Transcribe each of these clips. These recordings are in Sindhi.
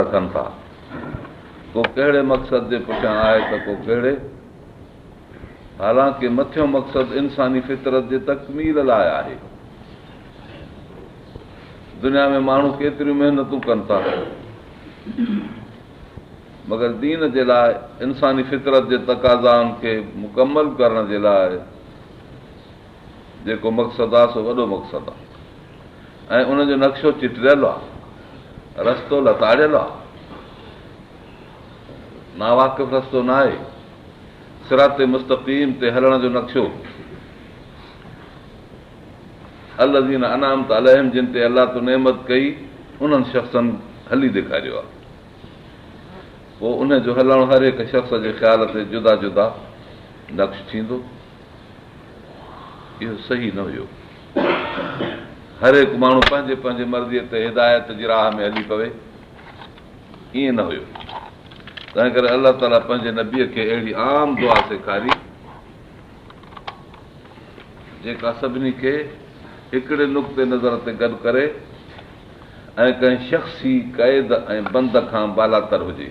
رکن ٿا، ڪو ڪهڙي مقصد جي پٺيان آهي ته ڪو ڪهڙي، حالانڪ مٿيون مقصد انساني فطرت جي تڪميل لاء آهي. دنيا ۾ ماڻهو ڪيتريون محنتون ڪن ٿا، مگر دين جي لاء انساني فطرت جي تقاضائن کي مڪمل ڪرڻ جي لاء، جيڪو مقصد آ سو وڏو مقصد آ ۽ ان جو نقشو چٽريل آ، رستو لتاڙيل آ، ناواقف رستو ناهي، صراط مستقيم تي هلڻ جو نقشو الذين انعمت عليهم جن تي الله تو نعمت ڪئي انهن شخصن هلي ڏيکاريو آ پوء ان جو هلڻ هر هڪ شخص جي خيال تي جدا جدا نقش ٿيندو. اهو صحيح نه هيو. هر هڪ ماڻهو پنهنجي پنهنجي مرضيء تي هدايت جي راهه ۾ هلي پوي، ائين نه هيو. تنهن ڪري الله تعاليٰ پنهنجي نبيء کي اهڙي عام دعا سيکاري، جيڪا سڀني کي هڪڙي نقطه نظر تي گڏ ڪري ۽ ڪنهن شخصي قيد ۽ بند کان بالاتر هجي.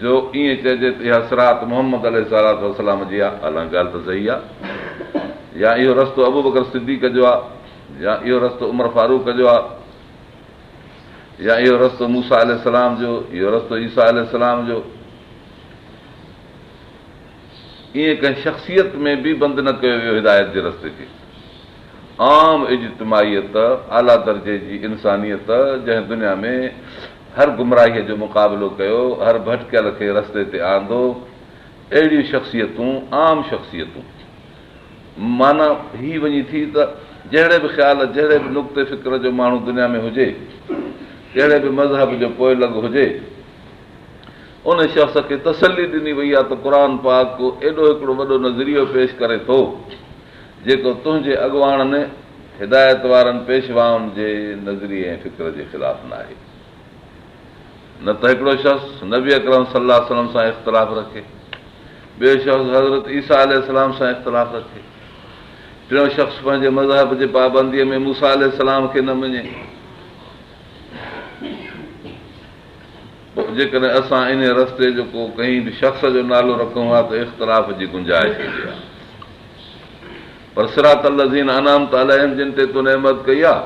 جو ائين چئجي ته اها صراط محمد عليه الصلوة والسلام جي آ، الان ڳالهه ته صحيح آ، يا اهو رستو ابوبڪر صديق جو آ، يا اهو رستو عمر فاروق جو آ، يا اهو رستو موسيٰ عليه السلام جو، اهو رستو عيسيٰ عليه السلام جو. ائين ڪنهن شخصيت ۾ به بند نه ڪيو ويو هدايت جي رستي کي. عام اجتماعيت، اعليٰ درجي جي انسانيت، جنهن دنيا ۾ هر گمراهيء جو مقابلو ڪيو، هر ڀٽڪيل کي رستي تي آندو، اهڙيون شخصيتون، عام شخصيتون. معنيٰ هي وڃي ٿي ته جهڙي به خيال، جهڙي به نقطي فڪر جو ماڻهو دنيا ۾ هجي، ڪهڙي به مذهب جو پوئي لڳ هجي، ان شخص کي تسلي ڏني وئي آهي ته قرآن پاڪ ايڏو هڪڙو وڏو نظريو پيش ڪري ٿو، جيڪو تنهنجي اڳواڻن، هدايت وارن، پيشوائن جي نظريي ۽ فڪر جي خلاف ناهي. نه ته هڪڙو شخص نبي اڪرم صلي الله عليه وسلم سان اختلاف رکي، ٻيو شخص حضرت عيسيٰ عليه السلام سان اختلاف رکي، ٽيون شخص پنهنجي مذهب جي پابنديء ۾ موسيٰ عليه السلام کي نه مڃي. پوء جيڪڏهن اسان انهيء رستي جو ڪو ڪنهن به شخص جو نالو رکون ها ته اختلاف جي گنجائش هوندي ها. پر صراط الذين انعمت عليهم جن تي تو نعمت ڪئي آهي،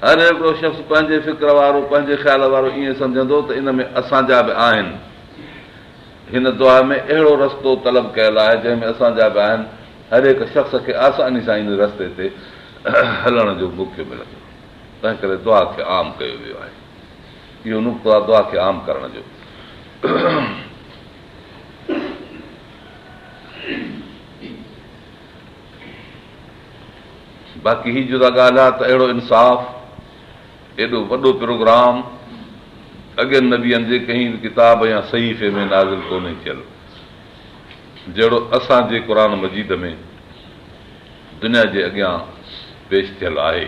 هر هڪڙو شخص پنهنجي فڪر وارو، پنهنجي خيال وارو ائين سمجهندو ته ان ۾ اسان جا به آهن. هن دعا ۾ اهڙو رستو طلب ڪيل آهي جنهن ۾ اسان جا به آهن، هر هڪ شخص کي آساني سان ان رستي تي هلڻ جو موقعو ملندو، تنهنڪري دعا کي عام ڪيو ويو آهي. اهو نقطو آهي دعا کي عام ڪرڻ جو. باقي هي جدا ڳالهه آهي ته اهڙو انصاف، ايڏو وڏو پروگرام اڳين نبين جي ڪنهن به ڪتاب يا صحيفي ۾ نازل ڪونهي ٿيل، جهڙو اسان جي قرآن مجيد ۾ دنيا جي اڳيان پيش ٿيل آهي.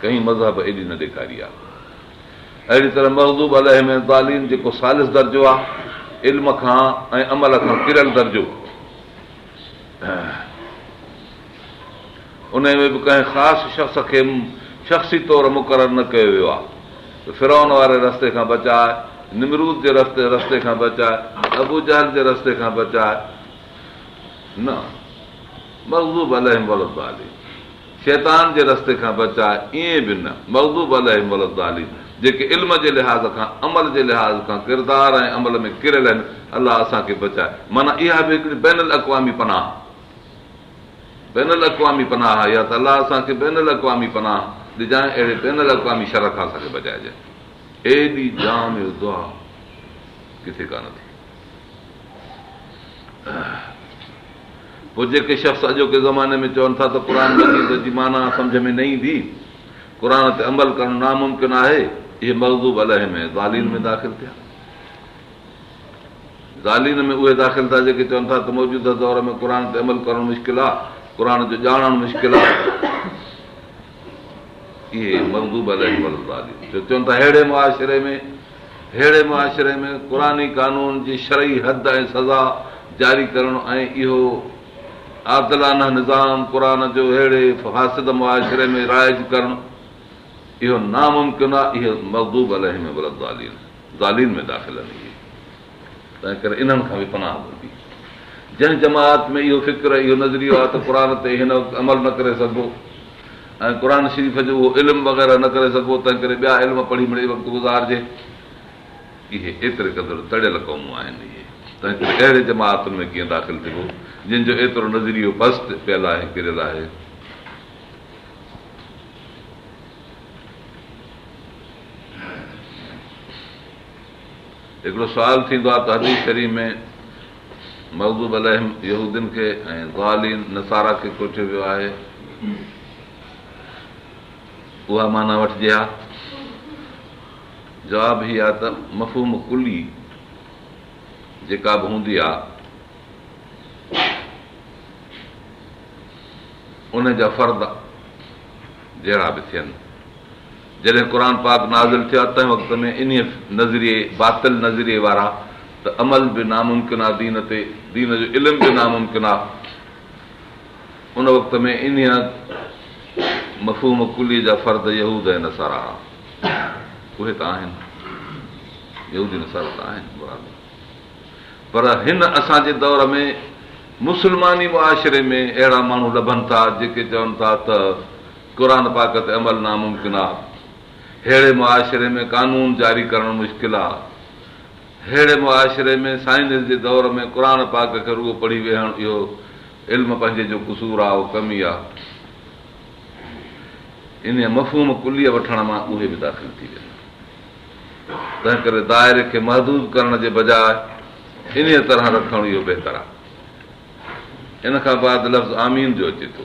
ڪنهن مذهب ايڏي نه ڏيکاري آ. اهڙي طرح مغضوب عليهم ۽ الضالين جيڪو ثالث درجو آ، علم کان ۽ عمل کان ڪريل درجو، انهي ۾ به ڪنهن خاص شخص کي شخصي طور مقرر نه ڪيو ويو آ ته فرعون واري رستي کان بچاء، نمرود جي رستي کان بچاء، ابوجهل جي رستي کان بچاء، نه مغضوب عليهم ولا الضالين. شيطان جي رستي کان بچاء ائين به نه، مغضوب عليهم ولا الضالين، جيڪي علم جي لحاظ کان، عمل جي لحاظ کان، ڪردار ۽ عمل ۾ ڪريل آهن، الله اسان کي بچاء، معنيٰ اها به هڪڙي بين الاقوامي پناهه، بين الاقوامي پناهه آهي، يا ته الله اسان کي بين الاقوامي پناهه ڏجانء، اهڙي بين الاقوامي شر کان اسان کي بچائجانء. ايڏي جامع دعا ڪٿي ڪانه ٿي. پوء جيڪي شخص اڄوڪي زماني ۾ چون ٿا ته قرآن مجيد جي معنيٰ سمجهه ۾ نه ايندي، قرآن تي عمل ڪرڻ ناممڪن آهي، اهي مغضوب عليهم ۽ ضالين ۾ داخل ٿيا. ضالين ۾ اهي داخل ٿيا جيڪي چون ٿا ته موجوده دور ۾ قرآن تي عمل ڪرڻ مشڪل آهي، قرآن جو ڄاڻڻ مشڪل آهي. اهي مغضوب عليهم ولاضالين جو چون ٿا ههڙي معاشري ۾ ههڙي معاشري ۾ قرآني قانون جي شرعي حد ۽ سزا جاري ڪرڻ ۽ اهو عادلانه نظام قرآن جو ههڙي فاسد معاشري ۾ رائج ڪرڻ اهو ناممڪن آهي اهي مغضوب عليهم ولاضالين ضالين ۾ داخل آهن اهي تنهن ڪري انهن کان به پناهه گهربي. جنهن جماعت ۾ اهو فڪر، اهو نظريو آهي ته قرآن تي هن وقت عمل نه ڪري سگهبو ۽ قرآن شريف جو اهو علم وغيره نه ڪري سگهبو، تنهن ڪري ٻيا علم پڙهي مڙئي وقت گذارجي. اهي ايتري قدر تڙيل قومون آهن. اهي تنهن ڪري اهڙي جماعتن ۾ ڪيئن داخل ٿبو، جن جو ايترو نظريو پست پيل آهي، ڪريل آهي. هڪڙو سوال ٿيندو آهي ته حديث شريف ۾ مغضوب عليهم يهودين کي ۽ ضالين نصارا کي ڪوٺيو ويو آهي اها معنيٰ وٺجي ها؟ جواب هي آهي ته مفهوم ڪلي جيڪا به هوندي آهي ان جا فرد جهڙا به ٿين جڏهن قرآن پاڪ نازل ٿيو آهي تنهن وقت ۾ انهيء نظريي، باطل نظريي، وارا ته عمل به ناممڪن آ دين تي، دين جو علم به ناممڪن آ. ان وقت ۾ انهيء مفهوم ڪليي جا فرد يهود ۽ نصارا هئا. اهي ته آهن. يهودي نصارا ته آهن. پر هن اسان جي دور ۾ مسلماني معاشري ۾ اهڙا ماڻهو لڀن ٿا جيڪي چون ٿا ته قرآن پاڪ تي عمل ناممڪن آ، ههڙي معاشري ۾ قانون جاري ڪرڻ مشڪل آ، ههڙي معاشري ۾ سائنس جي دور ۾ قرآن پاڪ کي رڳو پڙهي ويهڻ اهو علم پنهنجي جو قصور آ اهو ڪمي آ انهيء مفهوم ڪليء وٺڻ مان اهي به داخل ٿي ويندا. تنهنڪري دائري کي محدود ڪرڻ جي بجاء انهيء طرح رکڻ اهو بهتر آهي. ان کان بعد لفظ آمين جو اچي ٿو.